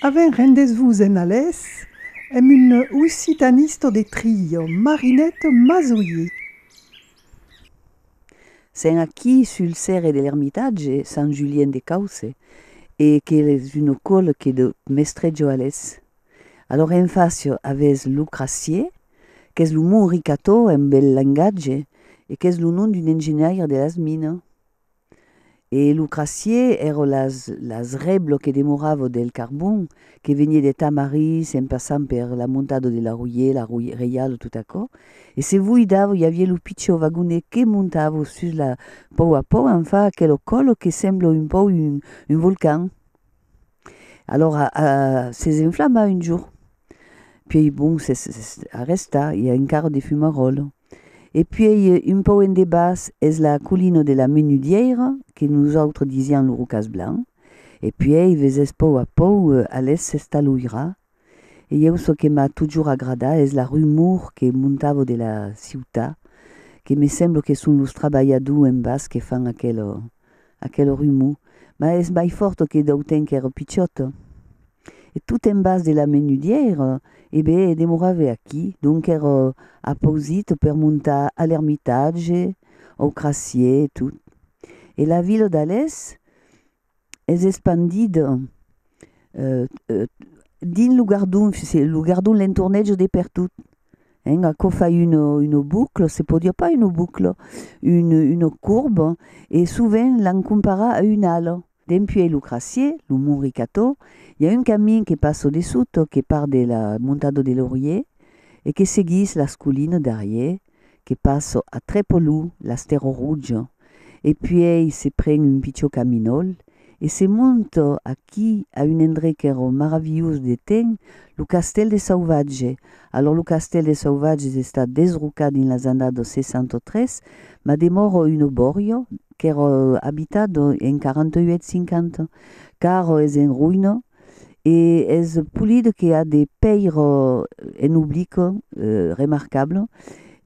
Avèm rendèsvos en alés emb un occitanista de tria, Marinèt Mazoyer. Sen aquí sul cèrre de l'Ermitatge, Sant Julien de Causse, e qu'es un ocòl que de mestrejo alés. Alòr en fàcia avètz lo Crassier, qu'es lo mont Ricatò en bèl lengatge e qu'es lo nom d'un engenhaire de las minas. E lo Crassier èra las las rèblo que demorava del carbon que venie de Tamarís en passant per la montada de la Royer, la Roy Reial e tot aquò. E se voi dava i aviá lo pichau vagonet que montava sus la pòu a pòu en fa aquelo còlo que sembla un pòu un un volcan. Alors se s'enflama un jour. Puèi bon, se s'arrèsta, i a encara de fumaròl. E puèi un pauc en debaç es la colina de la Menudièira, que nosautres disián lo Rocàs Blanc. E puèi ves es pauc a pauc a l'èst s'estaloira E ieu çò que m'a totjorn agradat es la rumor que montavo de la ciutat, que me semblo que son los trabalhadors en bas que fan aquela aquela rumor, mas es mai fòrt que dau temps qu'èra pichòt. E tot en bas de la Menudièira, e be, demorave aquí, donc qu'èra apausit per montar a l'Ermitatge, au Crassier e tot. E la vila d'Alès? es espandit dins lo gardon, se lo gardon l'entornejo de pertot, hein, aquò fa una, una bucla, se pòt dire pas una bucla, una, una corba, e sovent l'an comparat a una ala. Dempuèi lo Crassier, lo Mont Ricató, i a un camin que passa dessota, que part de la Montada de Laurier e que seguís las colinas darrier, que passo a Trepolù, l'Astero Ruggio, e puèi se pren un pichó caminòl e se monta aquí a un endrech qu'èra maravilhós de ten, lo castèl de Sauvatge. Alòr lo castèl de Sauvatge s'està desrocat dins las annadas 63, mas demòra una bòria qu'èra abitada en 48-50, qu'ara es en roïna. e es polida que a de pèir en oblic remarcable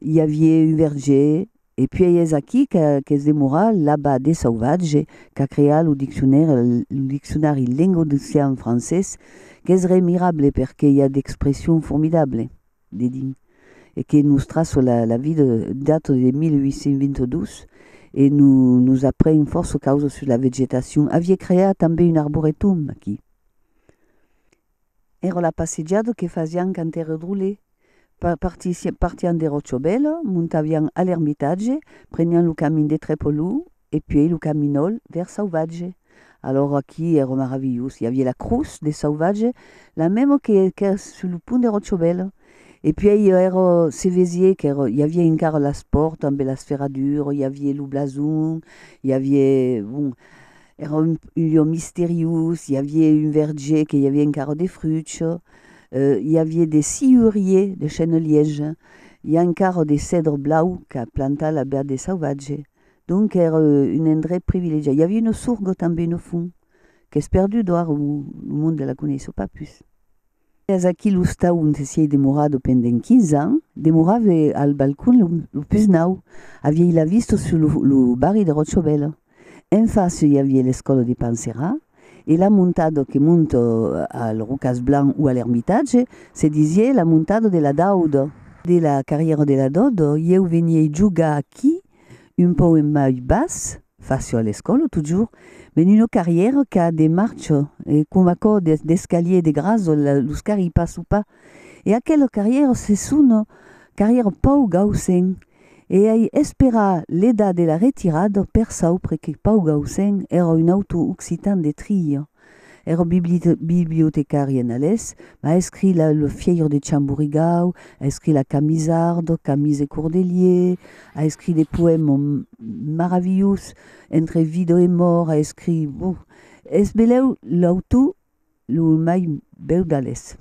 i avié un verger e puèi es aquí qu'es demora l'abba de Sauvatge qu'a creat lo diccionari lengo-docian-francés qu'es remirable perque i a d'expressions formidables. dedin e que nos traço la, la vida data de 1822 e no, nos apren fòrça causas sus la vegetacion. Avié creat tanben un arboretum aquí. Èra la passejada que fasián quand èra drole. Pa, partissi, partián de Ròchobèla, montavián a l'Ermitatge, prenián lo camin de Trepolon e puèi lo caminòl vèrs Sauvatge. Alòra aquí èra maravilhós, i aviá la crotz de sauvatge, la mèma que qu'èra sus lo pont de Rocciobèl, e puèi èra, se vesié qu'èra, i aviá encara las pòrtas ambe las ferradures, i aviá lo blason, i aviá, bon, èra un lieu misteriós, i aviá un verger que i aviá encara de fruchs, i aviá de sciuriers de chênes lièges, i encara de cèdre blau qu'a plantat la bèrt de sauvatge. Donc èra un endrech privilegiat. I avia una sorga tanben au fond, qu'es perdut d'ora, lo monde la coneissò pas pus. Es aquí l'ostau onte siei demorada pendent 15 ans, demorave al balcon lo pus nau, aviei la vista sus lo barri de Ròcha Bèla. En fàcia i avia l'escòla de Panserrat, E la montado que mont al Rocas Blanc o a l'Ermitatge se disié la montado de la Daudo. De la carrièra de la Daudo, ieu venié jogar aquí un pauc en mai bas, facio a l'escòla totjorn, ben una carrièra qu'a de marcha e coma cò d'escalier de grasol, los carri pas o pas e aquelo carrièro se sono carrièro Pau Gausen e ai esperar l'edat de la retirada per saupre que Pau Gausen èra un autor occitan de Trilha. Èra bibliotecari en alés, mas a escrit la Le Fièir de Chamburigau, a escrit la Camisarda, Camis e Cordelier, a escrit de poèma maravilhós, Entre vida e mòrt, a escrit, bon, es belèu l'autor lo mai bèu d'Alès.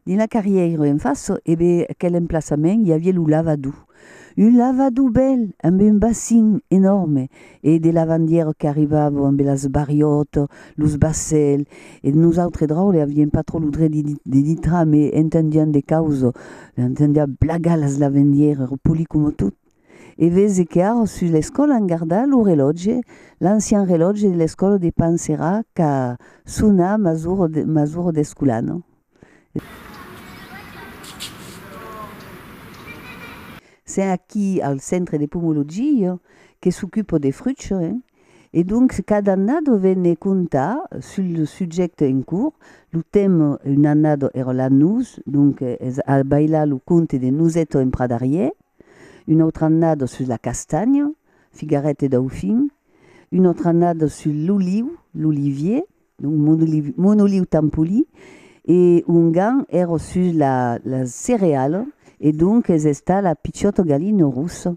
Dins la carrièira en fàça e be aquel emplaçament i aviá lo lavadò. Un lavadò bèl amb un basin enòrme e de lavandièra qu'arribava amb las barriòtas, los basèl e nosautres draule avièm pas tròp lo dret de dintrar me entendián de causa, entendiá blagar las lavandièras, repolir coma tot e vese que ara sus l'escòla an gardat lo relòtge, l'ancian relòtge de l'escòla de Panserà qu'a sonar masuro de masuro d'escolano. Sen aquí al centre de pomologia, jo que s'ocupo de frucho, hein, e donc cada annado vene contar sul lo subjècte en cours, lo tèma un annado èra la nus, donc es a bailar lo conte de Nusetto en pradarièr, Una autra annada sus la castanha, figaret e daufin. Una autra annada sus l'oliu, l'olivier, donc mon oliu tan poli. E ongan èra sus la cereala e donc es estat la piciota galina rossa.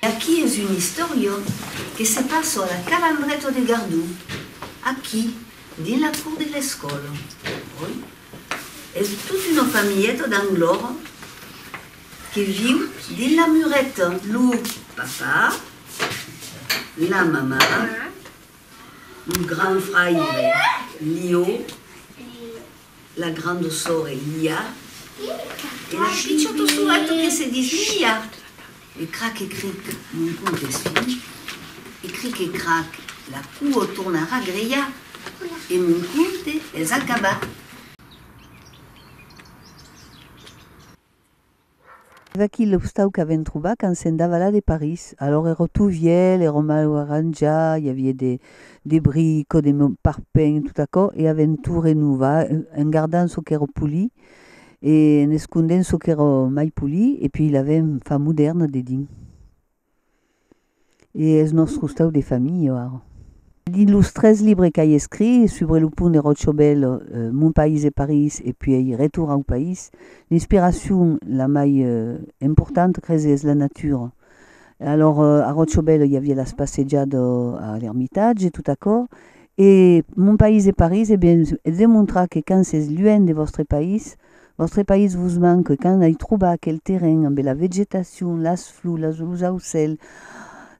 Aqui es un istoriò que se passa a la Calandreta de Gardó, aquí, dins la cour de l'escòla. Oi? Es tota una familheta d'Anglòra que viu dins la mureta, lo papà, la mamà, lo grand fraire Lió, La granda sòrre Lia e la pichota soreta que se dis Mia. E crac e cric, non comptes fin, e cric e crac, la cua torna a ragrejar e mon compte es acabat. Eth aquí l'obstau qu'avem trobat quand sèm davalat de París. Alòr ero tot vielh, ero mal arranjat, i avie de de brico, de parpènh, tot aquò, e avem tot renovar, en gardant çò qu'ero polit e en escondent çò qu'ero mai polit, e puis l'avem far modèrna dedins. E es nòst costau de familha, ara. Dins los tres libres qu'ai escrich, Subre lo pont de Ròchobèl, Mon país e París e puèi Retorn au país, l'inspiracion la mai importanta, cresi, es la natura. Alòr, a Ròchobèl i aviá las passejada a l'Ermitatge, tot aquò. E Mon país e París, e ben, es demontrar que quand s'es luènh de vòstre país, Vòstre país vos manque quand ai trobar aquel terren ambe la vegetacion, las flors, las los aucèls.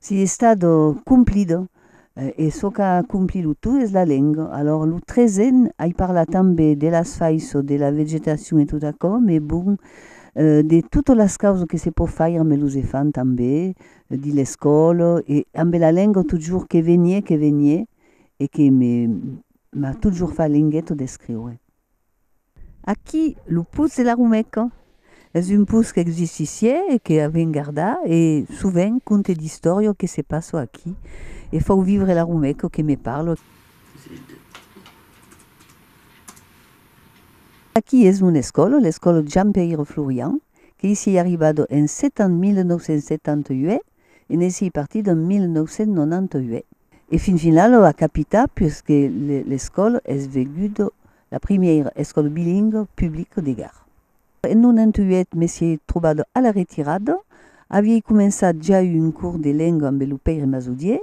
Si estat complida e çò qu'a compli lo tout es la lenga. Alòr lo tresen ai parlat tanbe de las faisçò de la vegetacion e tot aquò me bon de totes las causas que se pò faire ambe los efants tanbe dins l'escòla e ambe la lenga totjorn que venie que venie e que me m'a totjorn far lengueta d'escriure. Aquí, lo Putz de la Rumeca. Es un putz qu'exissi sié e que avem gardat e, sovent, conte d'istòria o que se passò aquí e fau vivre la Rumeca o que me parlò. Aquí es mon escòla, l'escòla Jean-Peire Florian, que i sié arribado en setan 1978 e ne s'i partí d'en 1998. E fin finau lo a capità puisque l'escòla es veguda la primièira escòla bilingua publica de Gard. En 98 me s'i trobada a la retirada, aviei començat ja un curs de lenga ambe lo pèire Masodier,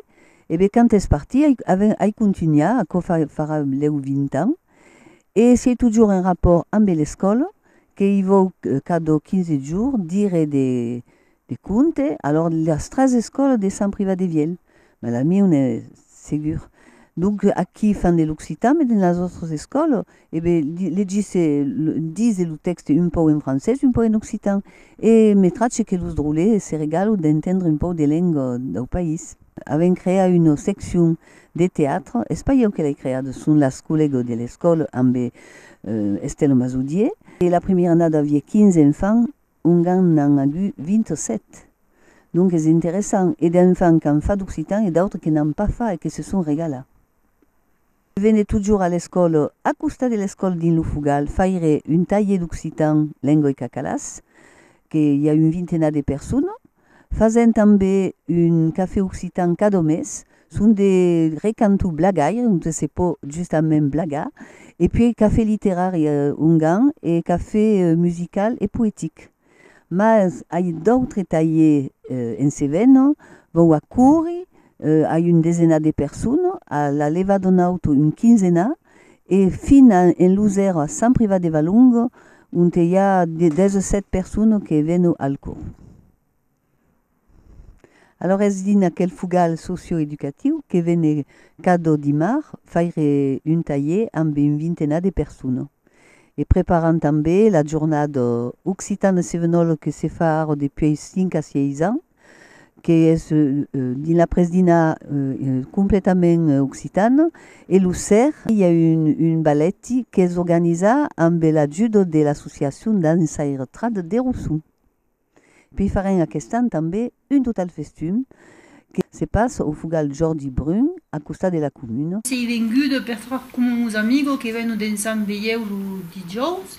e be quand es partí ai contunhà, aquò farà lèu 20 ans, e siei totjorn en rapòrt ambe l'escòla, que i vòu cada 15 jorn dire de De compte, alors de las tres escòlas de Sant Privat de Vièlh, mas la mieu n'es segur. Donc aquí fan de l'occitan, mas dins las autres escòlas, e be, legisse, dise lo tèxte un pauc en francés, un pauc en occitan, e me trache que los drolles se regalan d'entendre un pauc de lenga dau país. Avèm creat una seccion de teatre, es pas ieu que l'ai creada, son las collègas de l'escòla ambe Estela Masodier, e la primièra annada aviá 15 enfants, ongan n'an agut 27. Donc es interessant, e d'enfants qu'an fat occitan e d'autres que n'an pas fat e que se son regalat. Je venais totjorr a l'escole, a costat de l'escole dins lo Fogal, faire un talhier d'occitan, lengua e cacalàs, que i a un vintenat de personnes, Fasent tanbe un cafè occitan cadò mes, son de recanto blagaire onte se pò justament blagar, e puèi cafè literari ongan e cafè musical e poetic. Mas ai d'autre talhè en se vènon, vau acourir a un desenat de personas, a la levadon auto un quinzenat, e fin a en los èr a Sant Privat de Valongo onte i a 17 persones que veno al cors. Alòr es dins aquel fogal socio-educatiu que vene cada dimar faire un talher amb un vintenat de persones e preparan tanben la jornada Occitan e Sevenòl que se fa ara depuei 5 a 6 ans. qu'es dins la presdina completament occitana, e lo ser, i a un balèti qu'es organizat ambe l'ajuda de l'associacion Dança e Retrade de Rossum. Pei farem aquest an tanbe un total festum que se passa au Fogal Jordi Brun, a costat de la comuna. Sei venguda per far coma mos amigo que vèn o densam veieu lo dijòus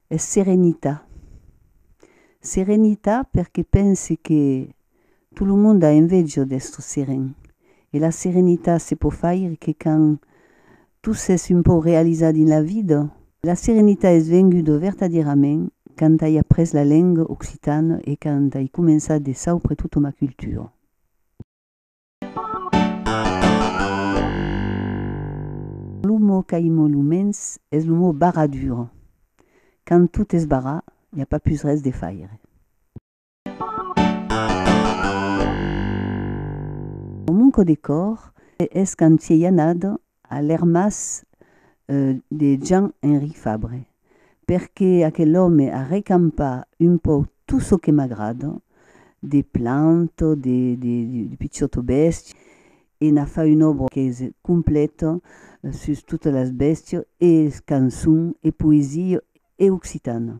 Es serenita. Serenita perque pense que tot lo monde a envejo d'estre seren. E la serenita se pò faire que quand tu s'es un pauc realizat dins la vida. La serenita es venguda vertadièrament quand ai après la lenga occitana e quand ai començat de saupre tota ma cultura. Lo mot qu'aimon lo mens es lo mot barradura. Quand tot es barrat, i a pas pus res de faire. Lo manco de còr es quand t'i ei anada a l'ermàs de Jean Henry Fabre, perque aquel òme a recampat un pauc tot çò que m'agrada, de plantas, de pichòtas bèstias, e n'a fat una òbra qu'es completa sus totas las bèstias e cançons e poesia e occitana.